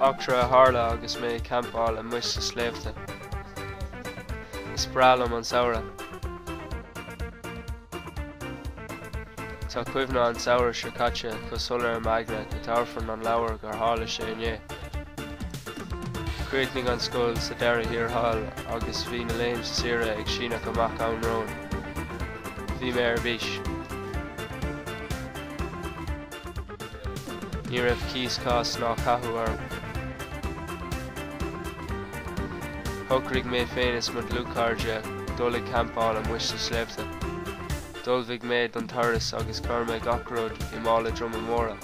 Eachtra a tharla agus mé ag campáil amuigh sa sléibhte. Is breá liom an samhradh. Tá cuimhne an tsamhraidh seo caite go soiléir i m'aigne go dtabharfainn an leabhar gur tharla sé inné. Chríochnaigh an scoil sa deireadh thiar thall agus bhí na laethanta saoire ag síneadh amach romhainn. Bhí mé ar bís. Ní raibh cíos cás ná cathú orm. Shocraigh mé féin is mo dhlúthchairde dul ag campáil amuigh sa sléibhte. D'ullmhaigh mé don turas agus chuir mé gach rud i mála droma móra.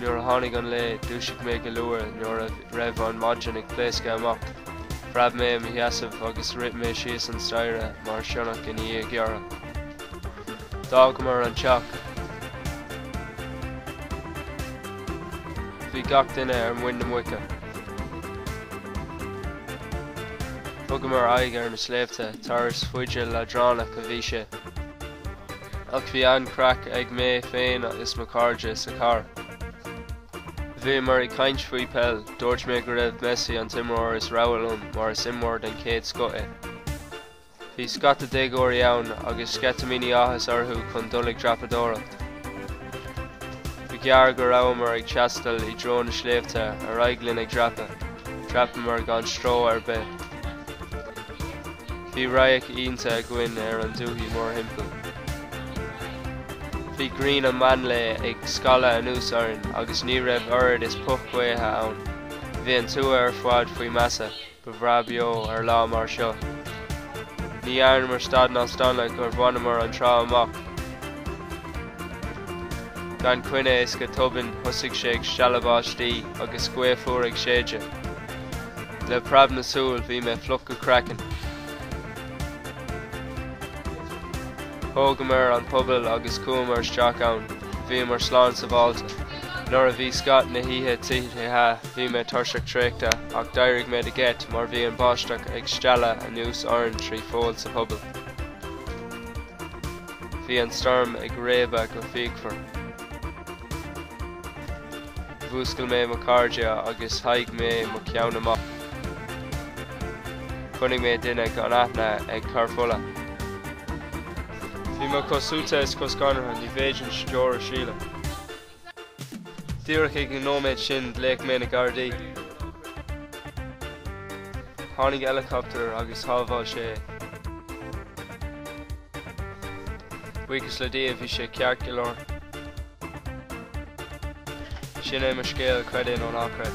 Nuair a tháinig an lae, dúisigh mé go luath nuair a raibh an maidin ag pléascadh amach. Phreab mé i mo sheasamh agus rith mé síos an staighre mar sionnach i ndiaidh giorria. D'fhágamar an teach. Bhí gach duine ar muin na muice. Thugamar aghaidh ar na sléibhte, turas fada leadránach a bhí sé. Ach bhí an-chraic ag mé féin is mo chairde sa charr. Bhíomar ag caint faoi peil, dúirt mé go raibh Messi an t-imreoir is rogha liom mar is imreoir den chéad scoth é. Bhí scata déagóirí ann agus sceitimíní áthais orthu chun dul ag dreapadóireacht. Ba ghearr go rabhamar ag taisteal i dtreo na sléibhte ar aghaidh linn ag dreapadh. Dhreapamar gan stró ar bith. Bhí radhairc iontacha againn ar an dúthaigh mórthimpeall. Bhí grian an mheán lae ag scalladh anuas orainn agus ní raibh oiread is puth gaotha ann. Bhí an tuath ar fad faoi mhaise. Ba bhreá beo ar lá mar seo. Ní dhearnamar stad ná staonadh gur bhaineamar an trá amach gan coinne is go tobann thosaigh sé ag stealladh báistí agus gaoth fhuar ag séideadh. Le preab na súl bhí mé fliuch go craiceann. Thógamar an puball agus chuamar isteach ann. Bhíomar slán sábháilte. Nuair a bhí scáth na hoíche tite bhí mé tuirseach traochta ach d'éirigh mé de gheit mar bhí an bháisteach ag stealladh anuas orainn trí pholl sa phuball. Bhí an stoirm ag réabadh go fíochmhar. Mhúscail mé mo chairde agus sháigh mé mo cheann amach. Chonaic mé duine gan aithne ag cur fola. Bhí mé chomh suaite is chomh scanraithe níorbh fhéidir deoir a shileadh. Díreach ag an nóiméad sin ghlaoigh mé na Gardaí. Tháinig eileacaptar agus shábháil sé é. Buíochas le Dia bhí sé ceart go leor. Sin é mo scéal, creid é nó ná creid.